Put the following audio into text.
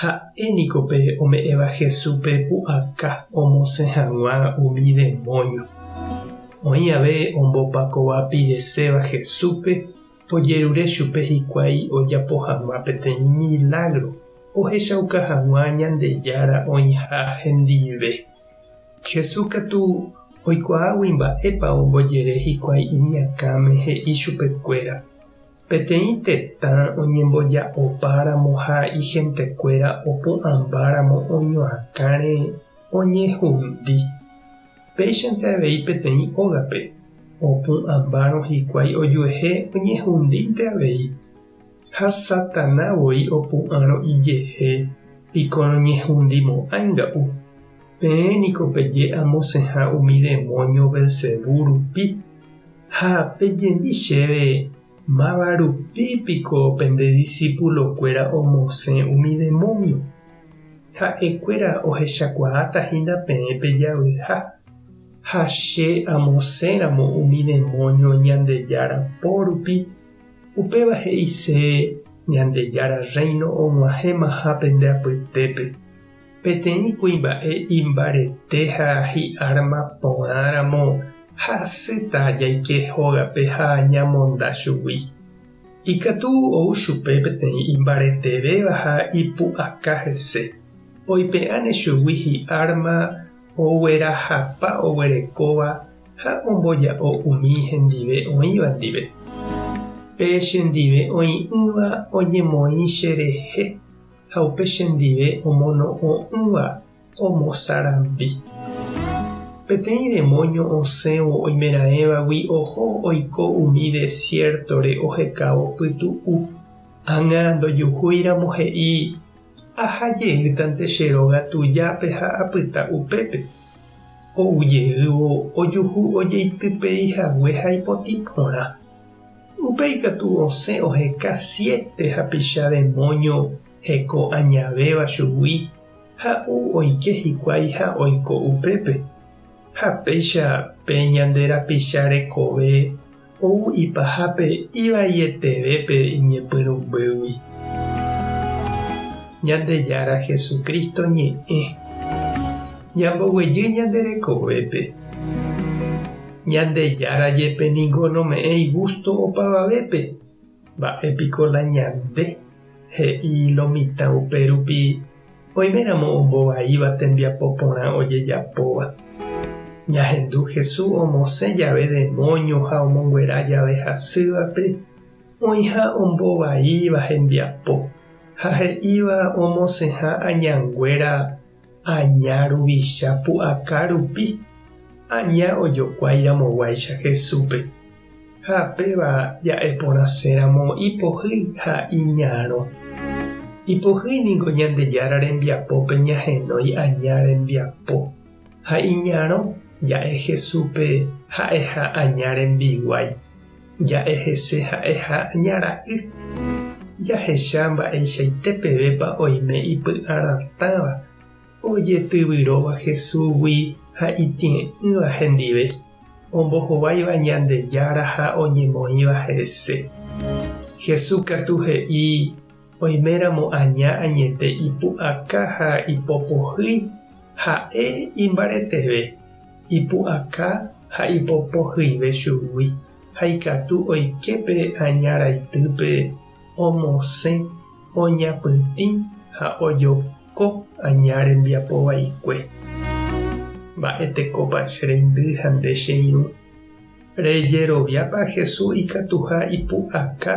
Ha'e niko pe ome'ẽva Jesúspe pu'aka omosẽ hag̃ua umi demónio. Oĩ ave ombopakova pireséva Jesúspe, ojerure chupe hikuái ojapo hag̃ua peteĩ milágro ohechauka hag̃ua Ñandejára oĩha hendive. Jesús katu oikuaágui mba'épa ombojere hikuái iñakãme he'i chupekuéra Peteĩ tetã oñemboja'opáramo ha ihentekuéra opu'ãmbáramo oñoakãre oñehundi. Péichante avei peteĩ ógape, opu'ãmbárõ hikuái ojuehe oñehundínte avei. Ha Satana voi opu'ãrõ ijehe, piko noñehundimo'ãinga'u. Peẽ niko peje amosẽha umi demónio Belcebú rupi. Ha pejemi chéve, Máva rupi piko pende disípulo kuéra omosẽ umi demónio? Ha'e kuéra ohechakuaáta hína peẽ pe javyha, ha che amosẽramo umi demónio Ñandejára po rupi, upéva he'ise Ñandejára Rréino og̃uahẽmaha pende apytépe. Peteĩ kuimba'e imbarete ha hi'árma porã ramo ha asýta jaike hógape ha ñamonda chugui. Ikatu ou chupe peteĩ imbaretevéva ha ipu'aka hese, oipe'áne chugui hi'árma oguerahapa oguerekóva ha omboja'o umi hendive oĩva ndive. Pe chendive oĩ'ỹva oñemoĩ cherehe. ha upe chendive omono'õ'ỹva omosarambi. Peteĩ demóño osẽvo oimeraẽvagui oho oiko umi desiértore ohekávo pytu'u. Ág̃a ndojuhúiramo he'i, Aha jeýtante che róga tujápe ha apyta upépe. Ou jeývo ojuhu ojeitypeihague ha ipotĩ porã. Upéi katu osẽ oheka siete hapicha demóño heko añavéva chugui, ha ou oike hikuái ha oiko upépe. Ha péicha pe ñande rapicha rekove ou ipahápe ivaietevépe iñepyrũmbýgui. Ñandejára Jesucristo ñe'ẽ. Ñamboguejy ñande rekovépe. Ñandejára jepe ningo nome'ẽ igústo opavavépe, mba'e piko la ñande he'i lo mitã upérupi oiméramo ombovaíva tembiapo porã ojejapóva. Ñahendu Hesu omosẽ jave demóño ha omonguera jave hasývape oĩha ombovaíva hembiapo ha he'íva omosẽha añanguéra Aña ruvicha pu'aka rupi, aña ojokuái ramoguáicha Jesúspe, ha péva ja'e porãse ramo ipohýi ha iñarõ. Ipohýi ningo Ñandejára rembiapópe ñahenói aña rembiapo, ha iñarõ ja'e Jesúspe ha'eha aña rembiguái. Ja'e hese ha'e ha ña ra'y. Jahecha mba'eichaite pevépa oime ipy'aratãva ojetyvyróva Jesúsgui ha itĩe'ỹva hendive, ombohováiva Ñandejára ha oñemoĩva hese. Jesús katu he'i Oiméramo aña añete ipu'aka ha ipopohýi, ha'e imbareteve, ipu'aka ha ipopohyive chugui, ha ikatu oike pe aña raitýpe omosẽ, oñapytĩ ha ojoko aña rembiapo vaikue. Mba'e tekópa che rendy ha nde che irũ? Rejeroviápa Jesús ikatuha ipu'aka